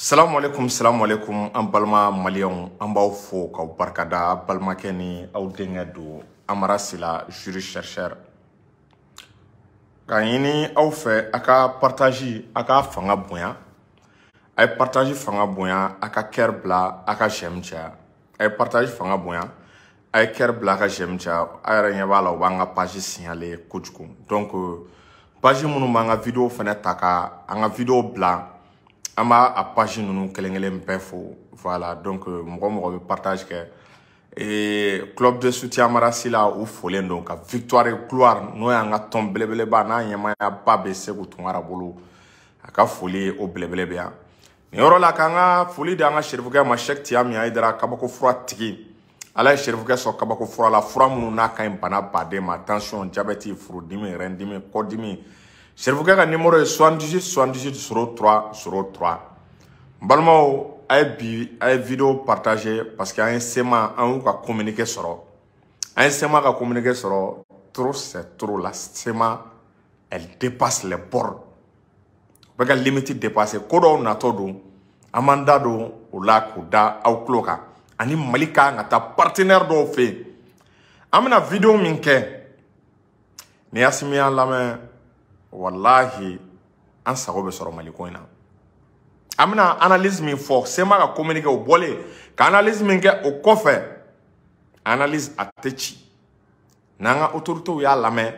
salamu aleykum salamu aleykum an balima maliyɛnw an b'aw fo k'aw barikada balimakɛ ni aw denkɛ don amara sila juri chercheur k'a ɲini aw fɛ a ka partazi a ka fanga bonya a ye partazi fanga bonya a ka kɛri bila a ka j'aime caya a ye partazi fanga bonya a ye kɛri bila a ka j'aime caya a yɛrɛ ɲɛ b'a la u b'an ka pazi signale kojugu donc pazi minnu b'an ka video fɛnɛ ta ka an ka video bila an b'a a page ninnu kelen kelen bɛɛ fo voilà donc euh, mɔgɔ mɔgɔ bɛ partage kɛ ee club de soutien amara sila u folen don ka victoire gloire n'o y'an ka tɔn belebeleba n'a ɲɛmaayaba bɛ seku tunkara bolo a ka foli ye o belebele bɛ yan nin yɔrɔ la k'an ka foli di an ka serifukɛ ma sɛki tiyami hayidara kabako fura tigi ala ye serifukɛ sɔn kabako fura la fura minnu n'a ka ɲi bana baden ma tansiyɔn jabɛti furudimi rɛndimi kɔdimi serifukɛ ka nimoro ye 78 78 03 03 n balimaw a ye bi a ye video partage parce que an ye sema an y'u ka communiqué sɔrɔ an ye sema ka communiqué sɔrɔ trop c'est trop la sema elle dépasse les bornes bɛ ka limiti depase ko dɔw natɔ don an b'an da don o la k'o da aw tulo kan ani mali ka kan ka taa partenaire dɔw fɛ yen an bɛna video min kɛ ni asimi y'an lamɛn walahi an sago bɛ sɔrɔ mali ko in na an bɛna analyse min fɔ sema ka communiqué o bɔlen ka analyse min kɛ o kɔfɛ analyse a tɛ ci n'an ka otoritew y'a lamɛn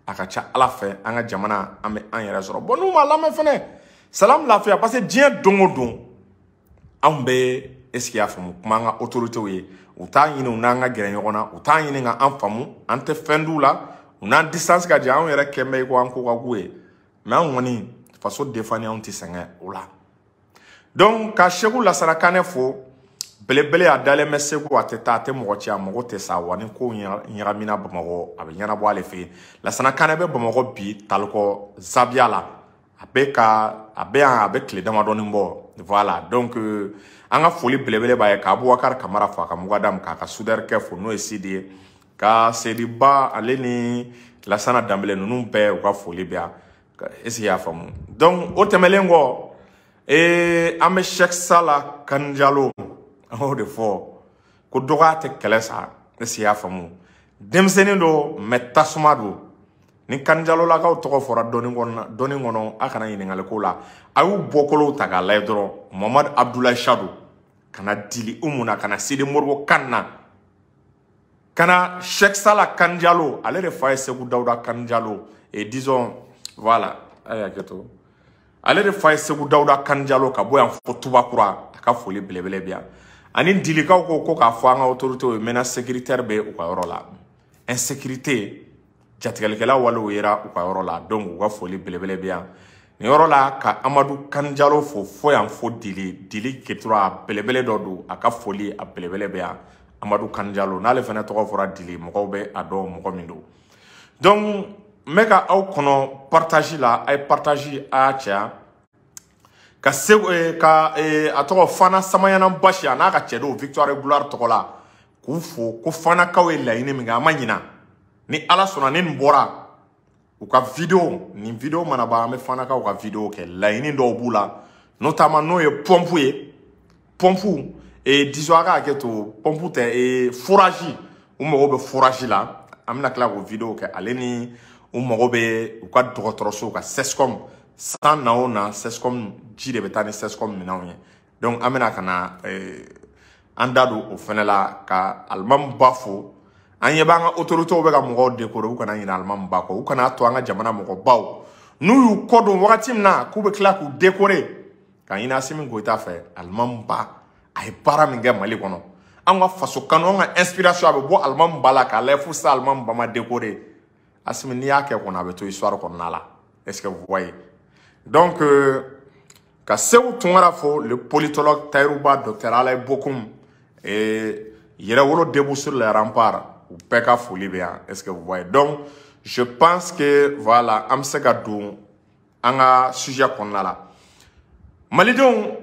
a ka ca ala fɛ an ka jamana an bɛ an yɛrɛ sɔrɔ bon n'u m'a lamɛn fɛnɛ salamu lafiya parce que diɲɛ don o don anw bɛ esike y'a faamu kuma an ka otoritew ye u t'a ɲini u n'an ka gɛrɛ ɲɔgɔn na u t'a ɲini ka an faamu an tɛ fɛn d'u la u n'an distance ka jan anw yɛrɛ kɛnbɛ ko an ko ka go u ye mɛ an kɔni faso defani anw tɛ sɛgɛn o la donc ka seku lasana kanɛ fo belebele a dalen bɛ segu a tɛ taa a tɛ mɔgɔ ci a mago tɛ sa wa ni kow ɲagamina bamakɔ a bɛ ɲɛnabɔ ale fɛ yen lasana kanɛ bɛ bamakɔ bi talikɔ zabiya la a bɛ ka a bɛ yan a bɛ tile damadɔni bɔ voilà donc euh, an ka foli belebele b'a ye ka abubakar kamara fo a ka mugadamu k'a ka sudɛrikɛ fo n'o ye sidi ye ka sediba ale ni lasana danbele ninnu bɛɛ u ka foli bɛ yan esi y'a faamu donc o tɛmɛlen kɔ ee an bɛ Sheikh Sala Kani Jalo an y'o de fɔ ko dɔgɔya tɛ kɛlɛ sa esi y'a faamu denmisɛnnin don mɛ tasuma don ni Kani Jalo lakaw tɔgɔ fɔra dɔnni kɔnɔ a kana ɲininkali k'o la a y'u bɔkolow ta k'a lajɛ dɔrɔn Mamadu Abudulayi Sadu Kana Dili Umu na Kana Sidi Moribo Kana kana Sheikh Sala Kanjalo ale de fa ye Segu Dawuda Kanjalo et disons voilà a ye hakɛ to ale de fa ye Segu Dawuda Kanjalo ka bɔ yan fo Tubakura a ka foli belebele bi yan ani dilikaw ko ko k'a fɔ an ka autorités ye menace sécuritaire bɛ u ka yɔrɔ la insécurité jatigɛlikɛla walew yera u ka yɔrɔ la donc u ka foli belebele bɛ yan nin yɔrɔ la ka amadu kanjalo fo fo yan fo dili dili ketura a belebele dɔ don a ka foli a belebele bɛ yan amadu kanjalo n'ale fana tɔgɔ fɔra dili mɔgɔw bɛ a dɔn mɔgɔ min don donc n bɛ ka aw kɔnɔ partage la a ye partage a y'a caya ka se eh, ka eh, a tɔgɔ fana samanyana basi a n'a ka cɛ dɔw victoire gloire tɔgɔ la k'u fo ko fanakaw ye laɲini min kɛ an ma ɲina ni ala sɔnna ni nin bɔra u ka video nin video mana ban an bɛ fanakaw ka video kɛ laɲini dɔw b'u la notamment n'o ye pɔmpu ye pɔnpu ee disons a ka hakɛ to pɔnpu tɛ ee forazi u mago bɛ forazi la an bɛna tila k'o video kɛ ale ni u mago bɛ u ka dɔgɔtɔrɔso ka sescom san na o na sescom ji de bɛ taa ni sescom minɛnw ye donc an bɛna ka na ee an da don o fɛnɛ la ka alimamu ba fo an ɲɛ b'an ka otoritew bɛ ka mɔgɔw dekore u kana ɲinɛ alimamu ba kɔ u kana to an ka jamana mɔgɔbaw n'u y'u kɔ don wagati min na k'u bɛ tila k'u dekore ka ɲini asimi goyita fɛ alimamu ba a ye baara min kɛ mali kɔnɔ an ka faso kanu an ka inspiration a bɛ bɔ alimamu ba la k'a lajɛ fo sisan alimamu ba ma dekore asimi n'i y'a kɛ kɔni a bɛ to histoire kɔnɔna la est ce que vous voyez donc euh, ka seku tunkara fo le politologue tayiru ba docteur alaye bokum et yɛrɛwolo debout sur les remparts u bɛɛ ka foli bɛ yan est ce que vous voyez donc je pense que voilà an bɛ se ka don an ka sujet kɔnɔna la malidenw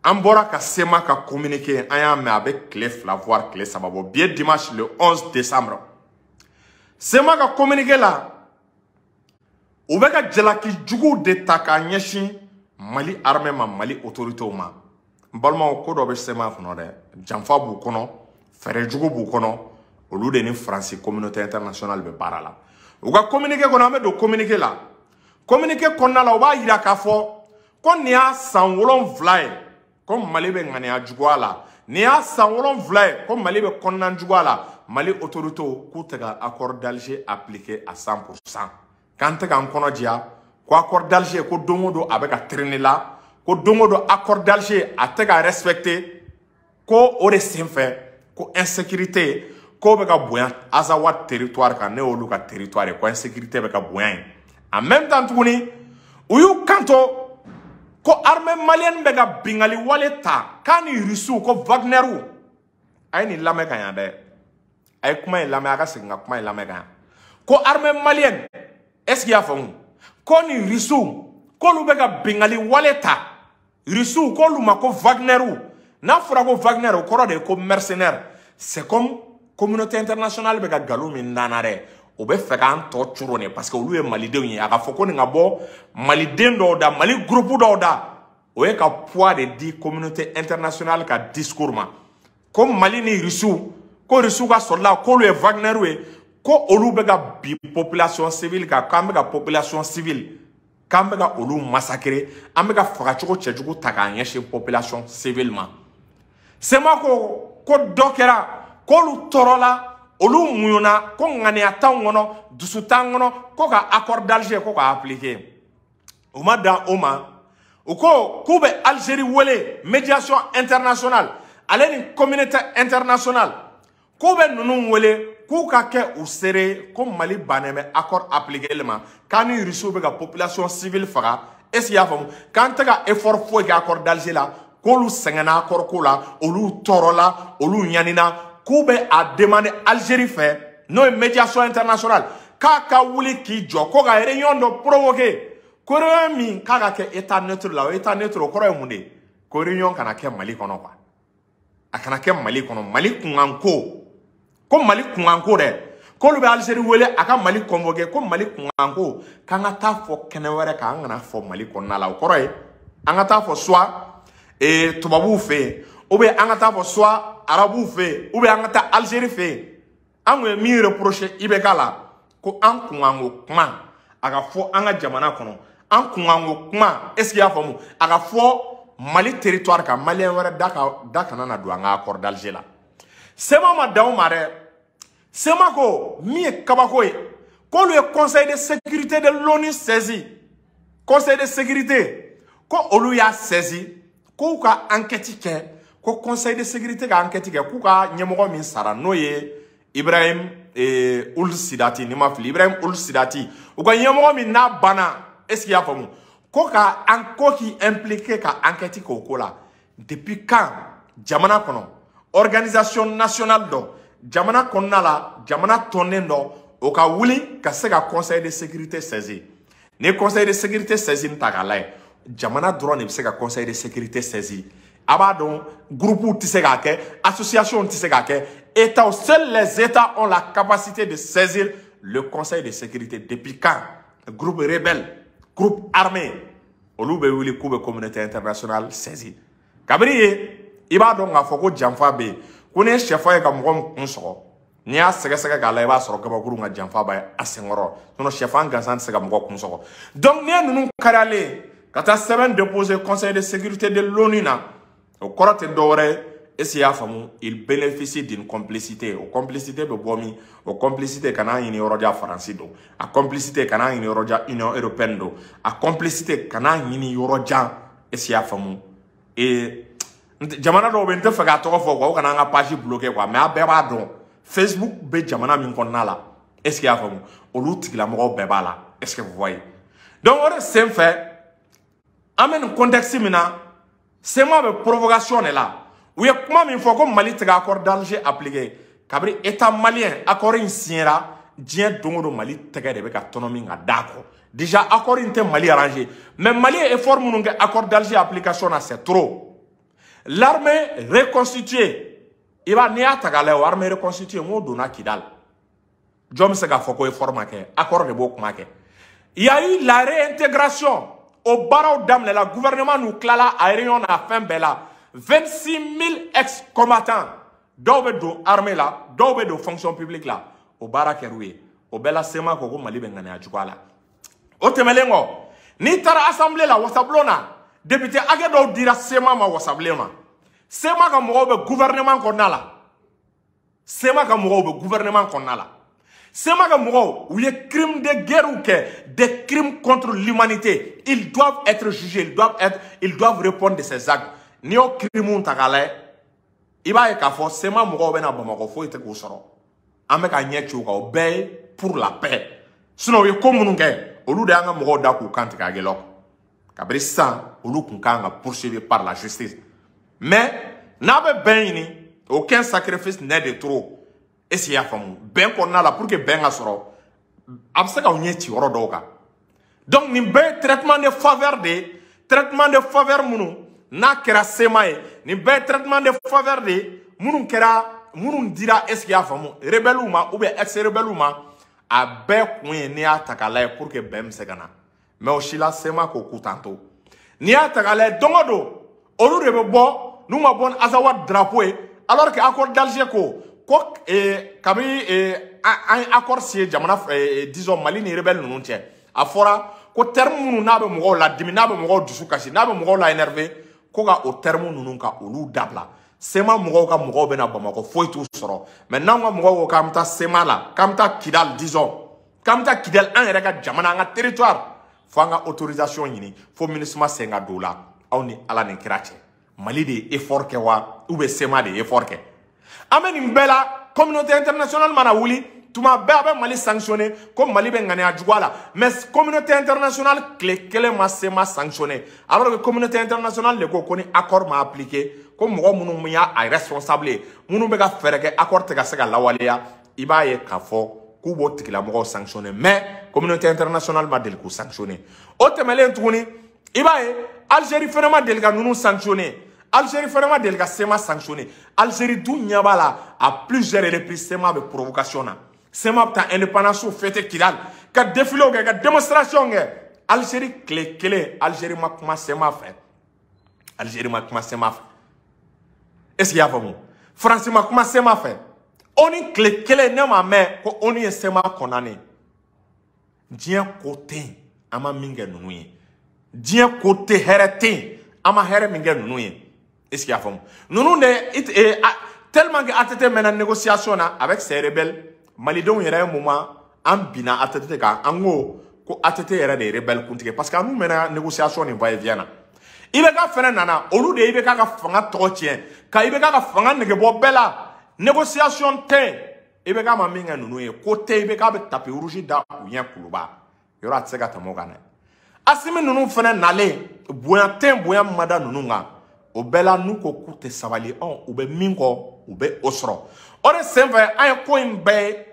an bɔra ka sema ka communiqué an y'a mɛn a bɛ tile fila voire tile saba bɔ bi ye dimanche le 11 décembre sema ka communiqué la u bɛ ka jalaki juguw de ta k'a ɲɛsin mali armée ma mali autorités ma n balimaw ko dɔ bɛ sema kɔnɔ dɛ janfa b'u kɔnɔ fɛɛrɛ jugu b'u kɔnɔ olu de ni faransi communauté internationale bɛ baara la u ka communiqué kɔnɔ an bɛ don communiqué la communiqué kɔnɔna la u b'a yira k'a fɔ ko nin y'a san wolonwula ye ko mali bɛ ŋaniya juguya la nin y'a san wolonwula ye ko mali bɛ kɔnɔna juguya la mali autoritew k'u tɛ ka accord d'alger appliquer à 100 pour 100 k'an tɛ k'an kɔnɔ jɛya ko accord d'Alger ko don o don a bɛ ka traîner la ko don o don accord d'Alger a tɛ ka respecter ko o de senfɛ ko insécurité ko bɛ ka bonya Azawad territoire kan n'o y'olu ka territoire ye ko insécurité bɛ ka bonya yen en même temps tuguni u y'u kanto ko armée malienne bɛ ka binkanni wale ta k'a ni rusiw ko wagneriw a ye nin lamɛn ka ɲa dɛ a ye kuma in lamɛn a ka segin ka kuma in lamɛn ka ɲa ko armée malienne est ce que y'a faamu ko ni risiw k'olu bɛ ka bingali wale ta risiw k'olu ma ko wagneriw n'a fɔra ko wagner o kɔrɔ de ye ko mercenaire c'est comme communauté internationale bɛ ka nkalon min da an na dɛ o bɛ fɛ k'an tɔ coron de parce que olu ye malidenw ye a ka fɔ ko nin ka bɔ maliden dɔw da mali groupe dɔw da o ye ka poids de di communauté internationale ka discours ma ko mali ni rusiw ko rusiw k'a sɔrɔla k'olu ye wagner ye ko olu bɛ ka bin population civile kan k'an bɛ ka population civile k'an bɛ ka olu massacrer an bɛ ka fagacogo cɛjugu ta k'a ɲɛsin population civile ma CMA ko ko dɔ kɛra k'olu tɔɔrɔla olu muɲuna ko ŋaniya t'anw kɔnɔ dusu t'an kɔnɔ ko ka accord d'alger ko k'a appliquer u ma dan o ma u ko k'u bɛ algérie wele médiation internationale ale ni communauté internationale k'u bɛ ninnu wele k'u ka kɛ u seere ko mali bannen bɛ accord appliqueli ma k'an ni rusiw bɛ ka population civile faga est ce que i y'a faamu k'an tɛ ka effort foyi kɛ accord d'alger la k'olu sɛgɛnna accord ko la olu tɔɔrɔla olu ɲanina k'u bɛ a demander algérie fɛ n'o ye médiation internationale k'a ka wuli k'i jɔ ko ka réunion dɔ provoquer ko réunion min k'a ka kɛ état neutre la o état neutre o kɔrɔ ye mun de ye ko réunion kana kɛ mali kɔnɔ quoi a kana kɛ mali kɔnɔ mali kunkanko ko mali kunkanko dɛ k'olu bɛ algérie wele a ka mali convoquer ko mali kunkanko k'an ka taa fɔ kɛnɛ wɛrɛ kan an kana fɔ mali kɔnɔna la o kɔrɔ ye an ka taa fɔ soit ee eh, tubabuw fɛ yen ou bien an ka taa fɔ soit arabuw fɛ yen ou bien an ka taa algérie fɛ yen an kun ye min reprocher IBK la ko an kunkanko kuma a ka fɔ an ka jamana kɔnɔ an kunkanko kuma est ce que y'a faamu a ka fɔ mali territoire kan malien wɛrɛ da kana na don an ka accord d'alger la CMA ma dan o ma dɛ CMA ko min ye kabako ye k'olu ye conseil de sécurité de l'ONU saisi conseil de sécurité ko olu y'a saisi k'u ka enquête kɛ ko conseil de sécurité ka enquête kɛ k'u ka ɲɛmɔgɔ min sara n'o ye ibrahim eh, ould sidati ni n ma fili ibrahim ould sidati u ka ɲɛmɔgɔ min n'a banna est ce que y'a faamu ko ka an ko k'i impliquer ka enquête k'o ko la depuis quand jamana kɔnɔ organisation nationale dɔ jamana kɔnɔna la jamana tɔnnin dɔ o ka wuli ka se ka conseil de sécurité saisir ni conseil de sécurité saisir n'i taa k'a lajɛ jamana dɔrɔn de bɛ se ka conseil de sécurité saisir a b'a dɔn groupew tɛ se k'a kɛ association tɛ se k'a kɛ états seuls les états ont la capacité de saisir le conseil de sécurité depuis quand groupe rebelle groupe armé olu bɛ wuli k'u bɛ communauté internationale saisi kabiri yen i b'a dɔn k'a fɔ ko janfa bɛ yen ko n'i ye sɛfan ye ka mɔgɔ kun sɔgɔ n'i y'a sɛgɛsɛgɛ k'a la i b'a sɔrɔ kabakuru ka janfa b'a a senkɔrɔ sinɔn sɛfan gansan tɛ se ka mɔgɔ kun sɔgɔ donc n'i ye ninnu karilen ka taa sɛbɛn déposer conseil de sécurité de l'onu na o kɔrɔ tɛ dɔwɛrɛ ye est ce que y'a faamu il bénéficie d'une complicité o complicité bɛ bɔ min o complicité kana ɲini yɔrɔjan faransi don a complicité kana ɲini yɔrɔjan union européenne don a complicité kana ɲini yɔrɔjan est ce que y'a faamu ee jamana dɔ bɛ n tɛ fɛ k'a tɔgɔ fɔ quoi o kana an ka page bloquer quoi mais a bɛɛ b'a dɔn facebook bɛ jamana min kɔnɔna la est ce que y'a faamu olu tigilamɔgɔw bɛɛ b'a la est ce que vous voyez donc o de senfɛ an bɛ nin contexte min na cma bɛ provocation de la u ye kuma min fɔ ko mali tɛ ka accord d'alger appliquer kabiri état malien accord in signera diɲɛ don o don mali tɛgɛ de bɛ ka tɔnɔmi ka d'a kɔ déjà accord in tɛ mali arranger mais mali ye effort minnu kɛ accord d'alger application na c'est trop l'armée reconstituée i b'a n'i y'a ta k'a lajɛ o armée reconstituée n k'o donna kidali jɔn bɛ se k'a fɔ ko effort ma kɛ accord de b'o kuma kɛ il y a eu la réintégration o baaraw daminɛla gouvernement n'u tilala a réunion n'a fɛn bɛɛ la 26 000 ex combattants dɔw bɛ don armée la dɔw bɛ don fonction publique la o baara kɛr'u ye o bɛɛ la cma ko ko mali bɛ ŋaniya juguya la o tɛmɛlen kɔ n'i taara assemblée la wasabulon na député hakɛ dɔw dira cma ma wasa bilen ma cma ka mɔgɔw bɛ gouvernement kɔnɔna la cma ka mɔgɔw bɛ gouvernement kɔnɔna la cma ka mɔgɔw u ye crime de guerrew kɛ des crimes contre l'humanité ils doivent être jugés ils doivent être ils doivent répondre de ces actes n'i y'o crimes ta k'a lajɛ i b'a ye k'a fɔ cma mɔgɔw bɛ na bamakɔ foyi tɛ k'u sɔrɔ an bɛ k'an ɲɛ ci u kan o bɛɛ ye pour la paix sinon u ye ko minnu kɛ olu de y'an ka mɔgɔw da k'u kan tigɛ aguelhok kabiri sisan olu kun kan ka poursuivi par la justice mais n'a bɛ bɛn ɲini aucun sacrifice n'est de trop est ce que i y'a faamu bɛn kɔnɔna la pour que bɛn ka sɔrɔ a bɛ se k'aw ɲɛ ci yɔrɔ dɔw kan donc nin bɛɛ ye traitement de faveur de ye traitement de faveur minnu n'a kɛra cma ye nin bɛɛ ye traitement de faveur de ye minnu dira est ce que i y'a faamu rebelles ma ou bien ex rebelles ma a bɛɛ kun ye n'i y'a ta k'a lajɛ pour que bɛn bɛ se ka na. mais o si la cma ko k'u t'an to n'i y'a ta k'a lajɛ don o don olu de bɛ bɔ n'u ma bɔ ni azawad drapeau ye alors que accord d'alger ko ko eh, kabini eh, an ye accord signer jamana eh, disons mali ni rebelle ninnu cɛ a fɔra ko terme minnu n'a bɛ mɔgɔw ladimi n'a bɛ mɔgɔw dusu kasi n'a bɛ mɔgɔw la énervé ko ka o terme ninnu ka olu dabila cma mɔgɔw ka mɔgɔw bɛ na bamakɔ foyi t'u sɔrɔ mais n'anw ka mɔgɔw ko k'an bɛ taa cma la k'an bɛ taa kidali disons k'an bɛ taa kidali an yɛrɛ ka jamana an ka territoire fo an ka autorisation ɲini fo minusima sen ka don o la aw ni ala ni kira cɛ mali de ye effort kɛ wa ou bien sema de ye effort kɛ an bɛ nin bɛɛ la communauté internationale mana wuli tuma bɛɛ a bɛ mali sanctionner ko mali bɛ ŋaniya juguya la mais communauté internationale tile kelen ma sema sanctionner alors que communauté internationale de ko ko ni accord ma appliquer ko mɔgɔ minnu y'a responsable ye minnu bɛ ka fɛɛrɛ kɛ accord tɛ ka se ka lawaleya i b'a ye k'a fɔ k'u b'o tigilamɔgɔw sanctionner mais communauté internationale ma deli k'u sanctionner o tɛmɛlen tuguni i b'a ye algérie fana ma deli ka ninnu sanctionner algérie fana ma deli ka sema sanctionner algérie dun ɲɛ b'a la à plusieurs reprises sema bɛ provocation na sema bɛ taa indépendance fête kidal ka défilew kɛ ka démonstration kɛ algérie tile kelen algérie ma kuma sema fɛ Algérie ma kuma sema fɛ est ce que y'a faamu France ma kuma sema fɛ ONU tile kelen ne ma mɛn ko ONU ye sema condamner diɲɛ ko tɛ yen an ma min kɛ ninnu ye diɲɛ ko tɛ hɛrɛ tɛ yen an ma hɛrɛ min kɛ ninnu ye est ce que y'a faamu ninnu de tellement que ATT mɛnna négociation na avec ces rebelles malidenw yɛrɛ un moment an binna atete kan an ko ko atete yɛrɛ de ye rebelle kuntigi parce que a n'u mɛnna négociation ni va et vient na ibk fɛnɛ nana olu de ye ibk ka fanga tɔgɔ tiɲɛ ka ibk ka fanga negebɔ bɛɛ la négociation tɛ ibk ma min kɛ ninnu ye ko tɛ ibk bɛ tapis rouge da u ɲɛ kuluba yɔrɔ a tɛ se ka tɛmɛ o kan dɛ asimi ninnu fana nalen bonya tɛ yen bonya min ma da ninnu kan o bɛɛ la n'u ko k'u tɛ sabali ɔn u bɛ min kɔ u bɛ o sɔrɔ o de senfɛ an ye ko in bɛɛ ye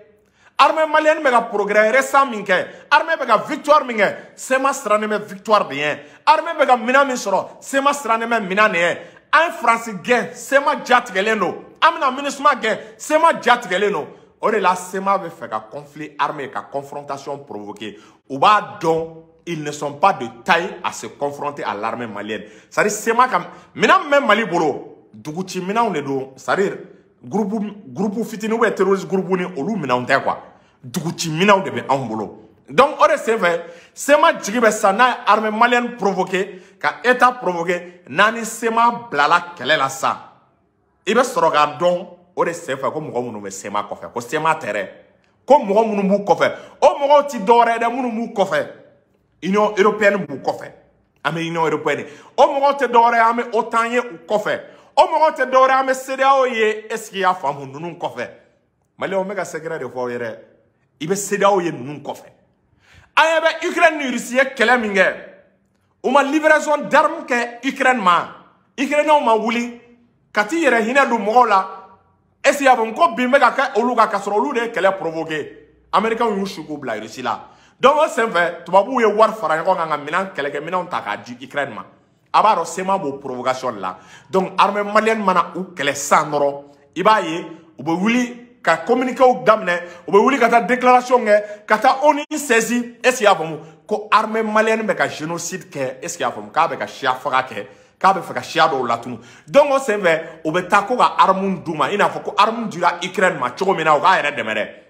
armée malienne bɛ ka progrès récent min kɛ armée bɛ ka victoire min kɛ sema sirannen bɛ victoire de ɲɛ armée bɛ ka minɛn min sɔrɔ sema sirannen bɛ minɛn de ɲɛ an ye faransi gɛn sema jatigɛlen don an bɛna minusima gɛn sema jatigɛlen don o de la sema bɛ fɛ ka conflit armé ka confrontation provoquer u b'a dɔn ils ne sont pas de taille à se confronter à l'armée malienne c'est à dire sema ka minɛn min bɛ mali bolo duguci minɛnw de don c'est à dire groupe groupe fitini ou terroriste groupe ni olu minɛnw tɛ quoi duguci minɛnw de bɛ anw bolo donc o de senfɛ sema jigi bɛ sa n'a ye armée malienne provoquer ka état provoquer n'a ni sema bilala kɛlɛ la sa i bɛ sɔrɔ k'a dɔn o de senfɛ ko mɔgɔ minnu bɛ sema kɔfɛ ko sema tɛ dɛ ko mɔgɔ minnu b'u kɔfɛ o mɔgɔw ti dɔwɛrɛ ye dɛ minnu b'u kɔfɛ union européenne b'u kɔfɛ an bɛ union européenne ye o mɔgɔw tɛ dɔwɛrɛ ye an bɛ otan ye u kɔfɛ o mɔgɔw tɛ dɔwɛrɛ ye an bɛ cedeao ye est ce que i y'a faamu ninnu kɔfɛ maliyɛnw n bɛ ka secret de fɔ aw ye dɛ i bɛ cedeao ye ninnu kɔfɛ an ɲɛ bɛ ukraine ni russie ye kɛlɛ min kɛ u ma livraison d'armes kɛ ukraine ma ukrainienw ma wuli ka t'i yɛrɛ hinɛ don mɔgɔw la est ce que y'a faamu ko bin bɛ ka kɛ olu kan ka sɔrɔ olu de ye kɛlɛ provoqué américainw y'u su k'u bila russie la donc o senfɛ tubabuw ye wari fara ɲɔgɔn kan ka minɛn kɛlɛkɛminɛnw ta k'a di ukraine ma a b'a dɔn CMA b'o provocation de la donc armée malienne mana u kɛlɛ sisan dɔrɔn i b'a ye u bɛ wuli ka communiquéw daminɛ u bɛ wuli ka taa déclaration kɛ ka taa onu saisir est ce que y'a faamu ko armée malienne bɛ ka génocide kɛ est ce que y'a faamu k'a bɛ ka siya faga kɛ k'a bɛ fɛ ka siya dɔw latunu donc o senfɛ u bɛ taa ko ka arme d'u ma i n'a fɔ ko arme dira ukraine ma cogo min na u k'a yɛrɛ dɛmɛ dɛ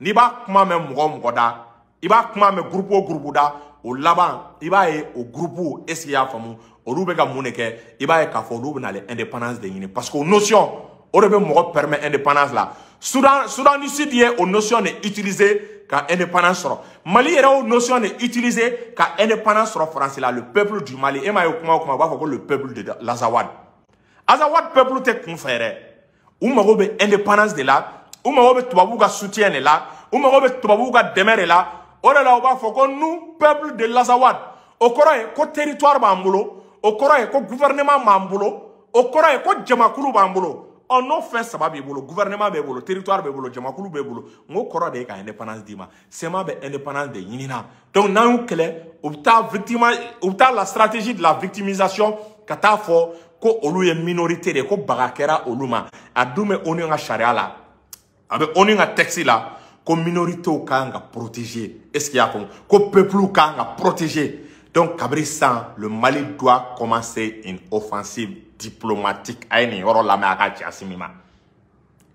n'i b'a kuma mɛn mɔgɔ o mɔgɔ da i b'a kuma mɛn gurupu o gurupu da o laban i b'a ye o gurupu est ce que y'a faamu olu bɛ ka mun de kɛ i b'a ye k'a fɔ olu bɛna l'indépendance de ɲini parce que o notion o de bɛ mɔgɔ permet indépendance la Soudan Soudan du Sud ye o notion de utiliser ka indépendance sɔrɔ Mali yɛrɛ o notion de utiliser ka indépendance sɔrɔ France la le peuple du Mali e m'a ye kuma o kuma u b'a fɔ ko le peuple de l'Azawad Azawad peuple tɛ kun fɛ yɛrɛ u mago bɛ indépendance de la u mago bɛ tubabuw ka soutien de la u mago bɛ tubabuw ka dɛmɛ de la o de la u b'a fɔ ko nous peuple de l'Azawad o kɔrɔ ye ko territoire b'an bolo o kɔrɔ ye ko gouvernement b'an bolo o kɔrɔ ye ko jamakulu b'an bolo ɔ n'o fɛn saba b'i bolo gouvernement b'e bolo territoire b'e bolo jamakulu b'e bolo n k'o kɔrɔ de ye ka indépendance d'i ma CMA bɛ indépendance de ɲinina donc n'an y'u kɛlɛ u bɛ taa victima u bɛ taa la stratégie de la victimisation ka taa fɔ ko olu ye minorité de ko baga kɛra olu ma a dun bɛ ONU ka sariya la a bɛ ONU ka texte la ko minoritéw ka kan ka protéger est ce que y'a faamu ko peuplew ka kan ka protéger donc kabiri sisan le Mali doit commencer une offensive diplomatique a ye nin yɔrɔ lamɛn a k'a ci asimi ma.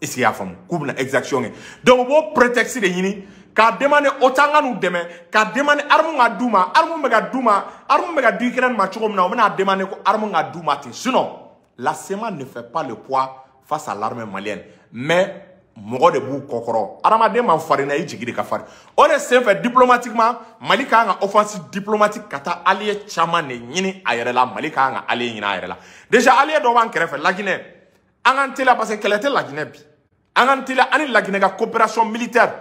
est-ce que y'a faamu k'u bɛna exaction kɛ donc u b'o prétexte de ɲini ka demande OTAN ka n'u dɛmɛ ka demande arme ka d'u ma arme bɛ ka d'u ma arme bɛ ka di Ukraine ma cogo min na u bɛna demande ko arme ka d'u ma ten sinon la CMA ne fait pas le poids face à l'armée malienne mais mɔgɔ de b'u kɔkɔrɔ adamaden man farin na i jigi de ka farin o de senfɛ diplomatiquement mali ka kan ka offensive diplomatique ka taa allié caman de ɲini a yɛrɛ la mali ka kan ka allié ɲini a yɛrɛ la déjà allié dɔ b'an kɛrɛfɛ laginɛ an k'an teliya parce que kɛlɛ tɛ laginɛ bi an k'an teliya an ni laginɛ ka coopération militaire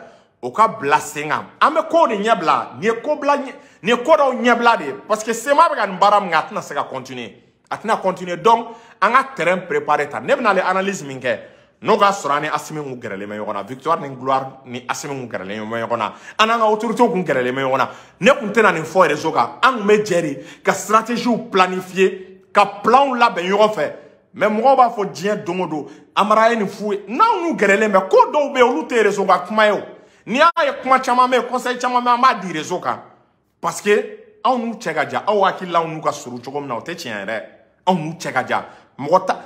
o ka bila sen kan an bɛ kow de ɲɛbila nin ye ko bila nin ye ko dɔw ɲɛbila de ye parce que CMA bɛ ka nin baara min kɛ a tɛna se ka continuer a tɛna continuer donc an ka terrain préparer ta ne bɛna ale analyse min kɛ n'o k'a sɔrɔ an ni asimi kun gɛrɛlen bɛ ɲɔgɔn na victoire ni gloire ni asimi kun gɛrɛlen bɛ ɲɔgɔn na an n'an ka autorités kun gɛrɛlen bɛ ɲɔgɔn na ne kun tɛna nin fɔ réseau kan an kun bɛ jɛ de ka stratégies planifier ka plans labɛn ɲɔgɔn fɛ mais mɔgɔw b'a fɔ n ye don o don amara ye nin f'u ye n'anw n'u gɛrɛlen bɛ ko dɔw bɛ yen olu tɛ rezo ka kuma ye o n'i y'a ye kuma caman bɛ yen conseil caman bɛ an b'a di rezo kan parce que anw n'u cɛ ka jan aw hakili la anw n'u ka surun cogo min na o tɛ tiɲɛ ye dɛ anw n'u cɛ ka jan mɔgɔ ta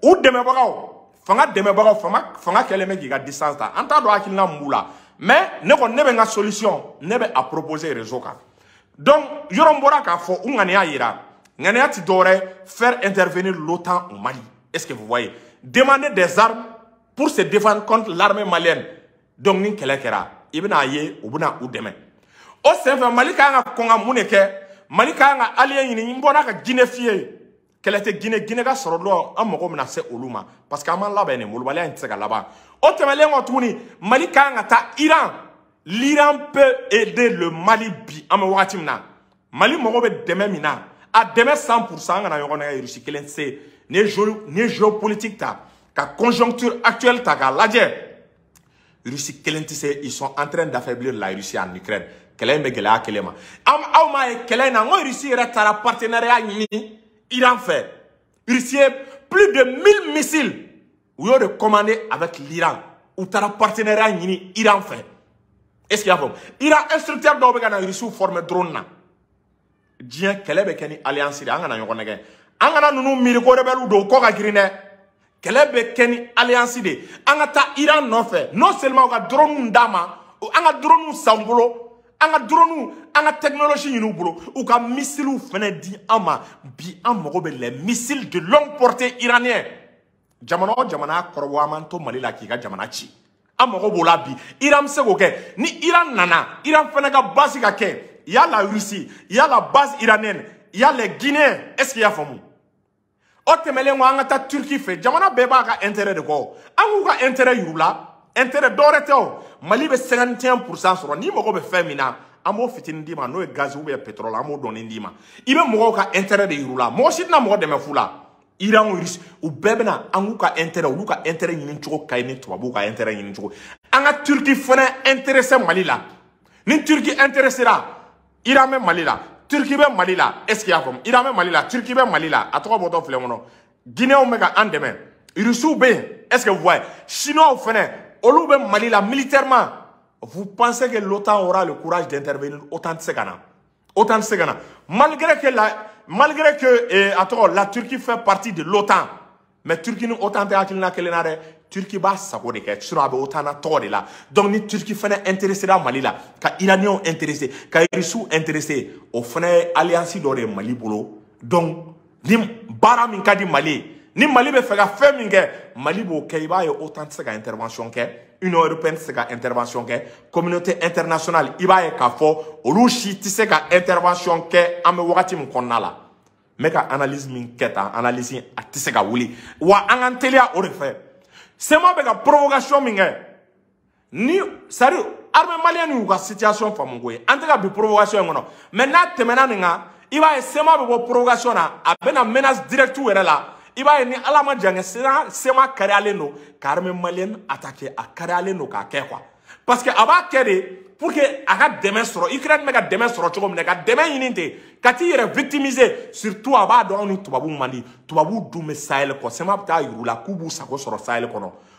u dɛmɛbagaw fanga dɛmɛbagaw fanga fanga kɛlen bɛ k'i ka distance ta an t'a dɔn hakilina mun b'u la mais ne kɔni ne bɛ n ka solution ne bɛ a proposer rezo kan donc yɔrɔ n bɔra k'a fɔ u ŋaniya yira ŋaniya tɛ dɔwɛrɛ faire intervenir l'otan au mali est ce que vous voyez demander des armes pour se défendre contre l'armée malienne donc ni kɛlɛ kɛra i bɛna a ye u bɛna u dɛmɛ o senfɛ mali ka kan ka kɔn ka mun de kɛ mali ka kan ka allié ɲini n bɔra ka guinée f'i ye kɛlɛ tɛ gine gine ka sɔrɔ dɔrɔn an mago bɛna se olu ma parce que an b'an labɛn nin molobaliya in tɛ se ka laban o tɛmɛlen kɔ tuguni mali ka kan ka taa iran l'iran peut aider le mali bi an bɛ wagati min na mali mago bɛ dɛmɛ min na a dɛmɛ 100 pourcent an kana ɲɔgɔn nɛgɛ rusi kelen se n'i ye géopolitique ta ka conjoncture actuelle ta k'a lajɛ Russie kelen tɛ se ils sont en train d'affaiblir la Russie en Ukraine kɛlɛ in bɛ gɛlɛya kelen ma am aw m'a ye kɛlɛ in na n ko Russie yɛrɛ taara partenariat ɲini Iran fɛ Russie ye plus de 1000 missiles u y'o de commandé avec l'Iran u taara partenariat ɲini Iran fɛ est-ce que y'a faamu Iran instructeur dɔw bɛ ka na Russie former drone na. diɲɛ kɛlɛ bɛ kɛ ni alliance de an kana ɲɔgɔn nɛgɛ an kana ninnu miiri ko rebɛliw don kɔ ka girin dɛ kɛlɛ bɛ kɛ ni alliance de an ka taa iran nɔfɛ non seulement u ka drone d'an ma an ka drone san u bolo an ka drone an ka technologie ɲini u bolo u ka missile fana di an ma bi an mago bɛ les missiles de longue portée iranien jamana o jamana kɔrɔbɔ an b'an to mali la k'i ka jamana ci an mago b'o la bi iran bɛ se k'o kɛ ni iran nana iran fana ka base ka kɛ y a la russie y a la base iranienne y a la guinée est ce que i y'a faamu o tɛmɛlen kɔ an ka taa turki fɛ jamana bɛɛ b'a ka intérêt de kɔ an k'u ka intérêt yir'u la intérêt dɔwɛrɛ tɛ o mali bɛ 51 pourcent sɔrɔ n'i mago bɛ fɛn min na an b'o fitinin d'i ma n'o ye gazi ou bien pétrole an b'o dɔɔni d'i ma i bɛ mɔgɔw ka intérêt de yir'u la mɔgɔ si tɛna mɔgɔ dɛmɛ fu la iran o irisi u bɛɛ bɛna an k'u ka intérêt olu ka intérêt ɲini cogo ka ɲi ni tubabuw ka intérêt ɲini cogo an ka turki fana intéressé mali la ni turki intéresséra iran bɛ mali la turki bɛ mali la est ce que y'a faamu iran bɛ mali la turki bɛ mali la a tɔgɔ bɔtɔ filɛ kɔnɔ guinéenw bɛ ka an dɛmɛ irisiw bɛ yen est ce que vous voyez chinois fana olu bɛ mali la militairement vous pensez que l'otan aura le courage d'intervenir otan tɛ se ka na OTAN tɛ se ka na malgré que la malgré que eh, a tɔgɔ la Turquie fait partie de l'OTAN mais Turquie ni OTAN tɛ hakilina kelen na dɛ Turquie b'a sago de kɛ sinon a bɛ OTAN na tɔgɔ de la donc ni Turquie fana intéressera Mali la ka Iraniens intéressé ka Russes intéressé o fana ye alliance dɔ de ye Mali bolo donc ni baara min ka di mali ye ni mali bɛ fɛ ka fɛn min kɛ mali b'o kɛ i b'a ye otan tɛ se ka intervention kɛ union européenne tɛ se ka intervention kɛ communauté internationale i b'a ye k'a fɔ olu si tɛ se ka intervention kɛ an bɛ wagati min kɔnɔna la n bɛ ka analyse min kɛ tan analyse a tɛ se ka wuli wa an k'an teliya o de fɛ sema bɛ ka provocation min kɛ ni sari armée malienne y'u ka situation faamu ko ye an tɛ ka bin provocation in kɔnɔ mais n'a tɛmɛna nin kan i b'a ye sema bɛ bɔ provocation na a bɛ na menace directe yɛrɛ la i b'a ye ni ala ma jan kɛ sema sema kariyalen don ka armée malienne attaquer a kariyalen don k'a kɛ quoi parce que a b'a kɛ de pour que a ka dɛmɛ sɔrɔ ukraine bɛ ka dɛmɛ sɔrɔ cogo min na ka dɛmɛ ɲini ten ka t'i yɛrɛ victimiser surtout a b'a dɔn anw ni tubabuw man di tubabuw dun bɛ sahel kɔ sema bɛ t'a yir'u la k'u b'u sago sɔrɔ sahel kɔnɔ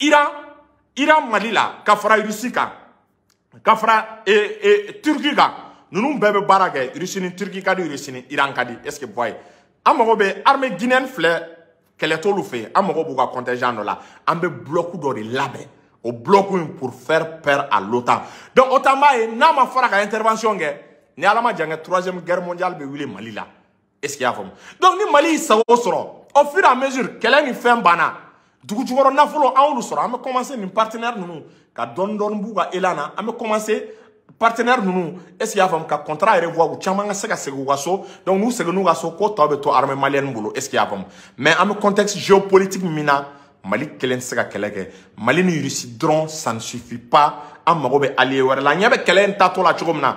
iran iran mali la ka fara irisi kan ka fara e, e, turki kan ninnu bɛɛ bɛ baara kɛ irisi ni turki ka di irisi ni iran ka di est ce que vous voyez an mago bɛ armée guinéenne filɛ kɛlɛ t'olu fɛ yen an mago b'u ka contingent dɔ la an bɛ bloc dɔ de labɛn o bloc in pour faire peur à l'OTAN donc OTAN b'a ye n'a ma fara ka intervention kɛ ni ala ma jan kɛ troisième guerre mondiale bɛ wuli mali la est-ce que y'a faamu donc ni mali y'i sago sɔrɔ au fur et à mesure kɛlɛ ni fɛn banna dugujukɔrɔ nafolo an y'olu sɔrɔ an bɛ commencer nin partenaire ninnu ka dɔɔni dɔɔni b'u ka élan na an bɛ commencer partenaire ninnu est ce que y'a faamu ka contrat revoir u caman ka se ka segin u ka so donc n'u seginna u ka so ko tɔ bɛ to armée malienne bolo est ce que y'a faamu mais an bɛ contexte géopolitique min na mali kelen tɛ se ka kɛlɛ kɛ mali ni russie dɔrɔn ça ne suffit pas an mago bɛ allié wɛrɛ la an ɲɛ bɛ kɛlɛ in taatɔ la cogo min na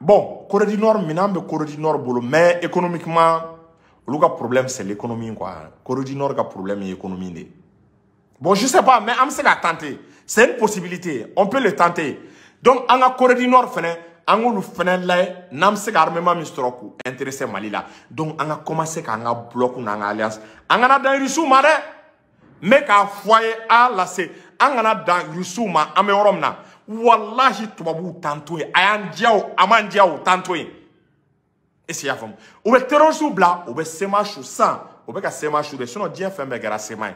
bon corée du nord minɛn bɛ corée du nord bolo mais économiquement olu ka problème c'est l'économie quoi corée du nord ka problème ye économie de ye bon je sais pas mais an bɛ se ka tenter c'est une possibilité on peut le tenter donc an ka corée du nord fɛnɛ an k'olu fɛnɛ lajɛ n'an bɛ se ka armement min sɔrɔ k'u intéresser mali la donc an ka commencer k'an ka bloc n'an ka alliance an kana dan irisiw ma dɛ n bɛ k'a fɔ aw ye a lase an kana dan irisiw ma an bɛ yɔrɔ min na walahi tubabuw t'an to yen a y'an diya o a m'an diya o u t'an to yen est-ce que i y'a faamu u bɛ terrorisiw bila u bɛ sema su san u bɛ ka sema su de sinon diɲɛ fɛn bɛɛ kɛra sema ye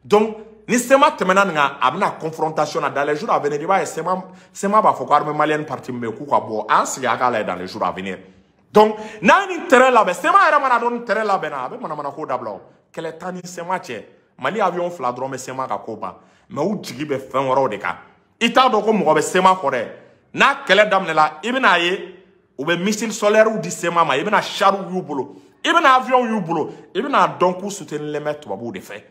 donc ni sema tɛmɛna nin kan a bɛ na confrontation na dans les jours à venir i b'a ye sema sema b'a fɔ ko armée malienne partie min bɛ yen k'u ka bɔ an sigi a k'a lajɛ dans les jours à venir donc n'an ye nin terrain labɛn sema yɛrɛ man'a dɔn nin terrain labɛnna a bɛ manamana ko dabila o kɛlɛ t'an ni sema cɛ mali avion fila dɔrɔn bɛ sema ka ko ban mais u jigi bɛ fɛn wɛrɛw de kan i t'a dɔn ko mɔgɔ bɛ sema kɔ dɛ n'a kɛlɛ daminɛla i bɛn'a ye u bɛ missile sol-air di sema ma i bɛna chariw y'u bolo i bɛna avion y'u bolo i bɛn'a dɔn k'u soutenilen bɛ tubabuw de fɛ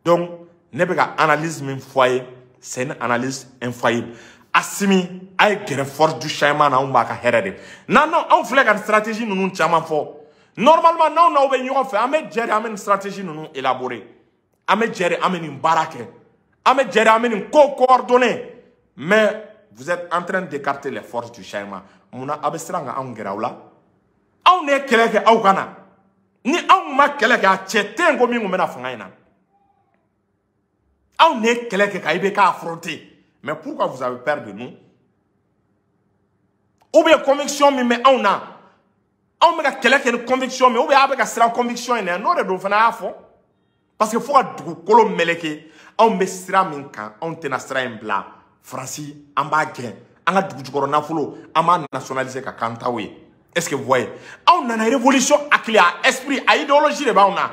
donc ne bɛ ka analyse min fɔ a ye c'est une analyse infaillible asimi a ye gɛrɛ force du changement na anw b'a ka hɛrɛ de nɔ anw filɛ ka stratégie ninnu caman fɔ normalement n'aw n'aw bɛ ɲɔgɔn fɛ an bɛ jɛ de an bɛ nin stratégie ninnu élaborer an bɛ jɛ de an bɛ nin baara kɛ an bɛ jɛ de an bɛ nin ko coordonner mais vous êtes en train d'écarter les forces du changement mun na aw bɛ siran ka anw gɛrɛ aw la anw de ye kɛlɛ kɛ aw ka na ni anw ma kɛlɛ kɛ a cɛ tɛ ko min tun bɛ na fanga in na anw de ye kɛlɛ kɛ ka IBK affronter mais pourquoi vous avez peur de nous ou bien conviction min bɛ anw na anw bɛ ka kɛlɛ kɛ ni conviction min ou bien aw bɛ ka siran conviction in ɲɛ n'o de don fana a y'a fɔ parce que fo ka dugukolo meleke anw bɛ sira min kan anw tɛna sira in bila faransi an b'a gɛn an ka dugu jukɔrɔ nafolo an b'a nationaliser k'a k'an taw ye est ce que vous voyez anw nana révolution hakili a esprit a idéologie de b'anw na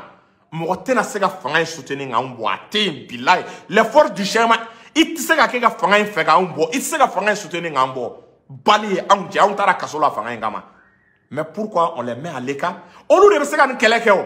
mɔgɔ tɛna se ka fanga in soutenir k'anw bɔ a tɛ yen bilayi les forces du changement i tɛ se ka kɛ ka fanga in fɛ k'anw bɔ i tɛ se ka fanga in soutenir k'an bɔ bali ye anw jɛ anw taara kaso la fanga in kama mais pourquoi on les met à l'écart olu de bɛ se ka nin kɛlɛ kɛ o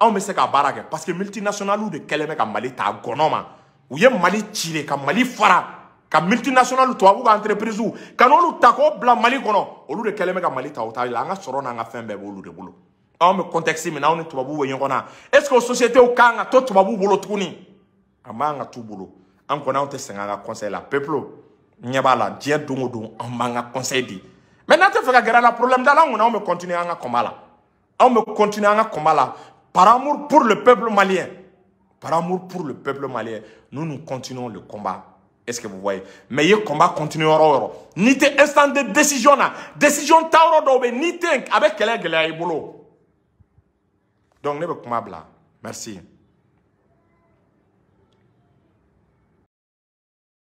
anw bɛ se ka baara kɛ parce que multinationaliw de kɛlen bɛ ka mali ta gɔnɔ ma u ye mali ci de ka mali fara ka multinationaliw tubabu ka entreprisew ka n'olu ta k'o bila mali kɔnɔ olu de kɛlen bɛ ka mali ta o t'a la an ka sɔrɔ n'an ka fɛn bɛɛ b'olu de bolo anw bɛ contexte min na anw ni tubabuw bɛ ɲɔgɔn na est ce que o sociétéw kan ka to tubabuw bolo tuguni a man ka t'u bolo an kɔni anw tɛ sɛgɛn an ka conseil la peuple ɲɛ b'a la diɲɛ don o don an b'an ka conseil di mais n'an tɛ fɛ ka gɛrɛ a la problème t'a la an kɔni anw bɛ continuer an ka combat la anw bɛ continuer an ka combat la par amour pour le peuple malien par amour pour le peuple malien nous nous continuons le combat est ce que vous voyez mais i ye combat continuer yɔrɔ o yɔrɔ n'i tɛ instance de décision na décision ta yɔrɔ dɔw bɛ n'i tɛ a bɛ kɛlɛ gɛlɛya i bolo donc ne bɛ kuma bila merci.